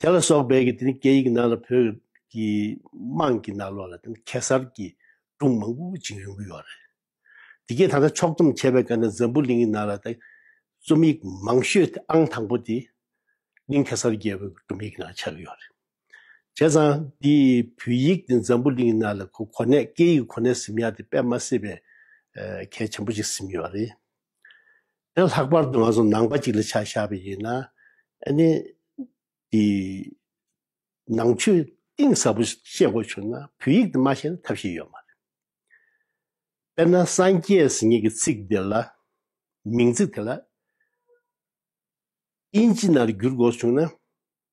དེ་ལ་སོགས་པའི་དེ་ནི་སྐད་ཡིག་ནང་ལ་བོད་ཀྱི་དམངས་ཀྱི་ནང་ལོགས་ལ་དེ་ནི་གེ་སར་གྱི་སྒྲུང་མང་པོ་བྱིངས་རིང་པོ་ཡོད་རེད། དེ་སྐད་ད་ལྟ་ཕྱོགས་བསྡོམས་བྱས་པའི་སྐབས་ནས་འཛམ་བུ་གླིང་གི་ནང་ལ་དེ་རྩོམ་ཡིག་མང་ཤོས་དེ་ཨང་དང་པོ་དེ་གླིང་གེ་སར་རྒྱལ་པོའི་སྒྲུང་ཡིག་ནང་ཆགས་ཡོད་རེད། བྱས་ཙང་དེ་བོད་ཡིག་དེ་འཛམ་བུ་གླིང་གི་ནང་ལ་ཁོ་གོ་གནས་སྐད་ཡིག་གོ་གནས་ཟིན་ཡག་དེ་དཔེ་མ་སྲིད་པའི་གལ་ཆེན་པོ་ཅིག་ཟིན་ཡོད་རེད། ཡང་ལྷག་པར་དུ་ང་ཚོ་ནང་པ་ཅིག་ལ་ཆ་བཞག་པ་ཡིན་ན་ནི་དེ་ནང་ཆོས་གཏིང་ཟབ་པོ་ཤེས་དགོས་བྱུང་ན་བོད་ཡིག་དེ་མ་ཤེས་ན་ཐབས་ཤེས་ཡོད་མ་རེད། དཔེར་ན་སངས་རྒྱས་ཟེར་ཉིད་ཀྱི་ཚིག་དེ་ལ་མིང་ཚིག་དེ་ལ་དབྱིན་ཇི་ནང་དུ་བསྒྱུར་དགོས་བྱུང་ན་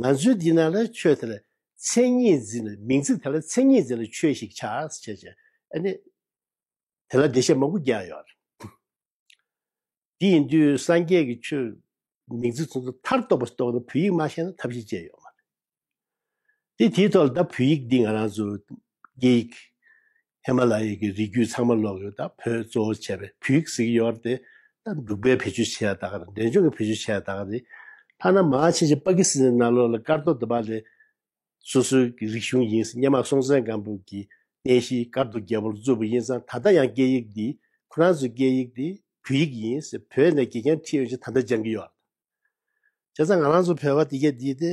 ང་ཚོའི་འདི་ན་ལ་ཆོས་དེ་ལ་མཚན་ཉིད་འཛིན་ལ་མིང་ཚིག་དེ་ལ་མཚན་ཉིད་འཛིན་ལ་ཆོས་ཤིག་ཆགས་སུ་བྱེད་ཅིང་ཨ་ནི། དེ་ལ་བདེ་གཤེགས་མང་པོ་བརྒྱ་ཡོད་རེད། དེ་ཡིན་དུས་སངས་རྒྱས་ཀྱི་ཆོས་མིང་ཚིག་ཚོགས་ཚོགས་མཐར་གཏོགས་པ་རྟོགས་ན་བོད་ཡིག་མ་ཤེས་ན་ཐབས་ཤེས་ཅན་ཡོད་མ་རེད། དེ་དེའི་ཐོག་ལ་ད་བོད་ཡིག་འདི་ང་རང་ཚོ་སྐད་ཡིག་ཧི་མ་ལ་ཡའི་གི་རི་རྒྱུད་ཚང་མ་ལོག་ཡོད་ད་བོད་གཙོ་བོ་བྱས་པའི་བུའི་གཟིགས་གཡོར་དེ་ད་འབྲུག་པའི་བེད་སྤྱོད་བྱས་ད་ག་ར་འདྲེན་སྦྱོང་གི་བེད་སྤྱོད་བྱས་ད་ག་རེད་ཐ་ན་མ་ཆེ་ཆེ་པ་ཀི་སི་ཐན་ན་ལོག་ལ་སྐར་རྡོ་འདི་པ་ལས་སོ་སོའི་གི་རིག་གཞུང་ཡིན་སྙེ་མ་སྲོང་བཙན་སྒམ་པོ་གི་རྟེན་གཞི་སྐར་རྡོ་རྒྱལ་པོར་བཙུགས་པ་ཡིན་ཙང་ད་ལྟ་ཡང་སྐད་ཡིག་འདི་ཁོ་རང་ཚོའི་སྐད་ཡིག་འདི་བུ་ཡིག་ཡིན་བོད་ནས་དགེ་རྒན་ཁྲིད་ཡོང་ཆེད་ད་ལྟ་སྦྱང་གི་ཡོད་ད་བྱས་ཙང་ང་རང་ཚོ་བོད་པ་དེ་གས་འདི་དེ།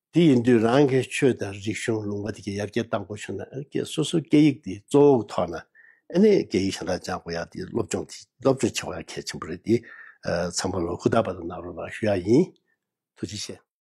དེ་ཡིན་དུས་རང་གི་ཆོས་དང་རིག་གཞུང་ལུང་པ་དེ་ག་ཡར་རྒྱས་བཏང་དགོས་བྱུང་ན་སོ་སོའི་སྐད་ཡིག་དེ་གཙོ་བོ་ཐོག་ན་ཨ་ནེ་སྐད་ཡིག་ཞེ་དྲག་སྦྱང་དགོས་ཡ་དེ་སློབ་སྦྱོང་དེ་སློབ་སྦྱོང་བྱེད་དགོས་ཡ་གལ་ཆེན་པོ་རེད་དེ་ཚང་མ་ལོ་ཁུ་དག་པ་དང་ནང་རོགས་ལ་ཞུ་ཡ་ཡིན་ཐུགས་རྗེ་ཆེ།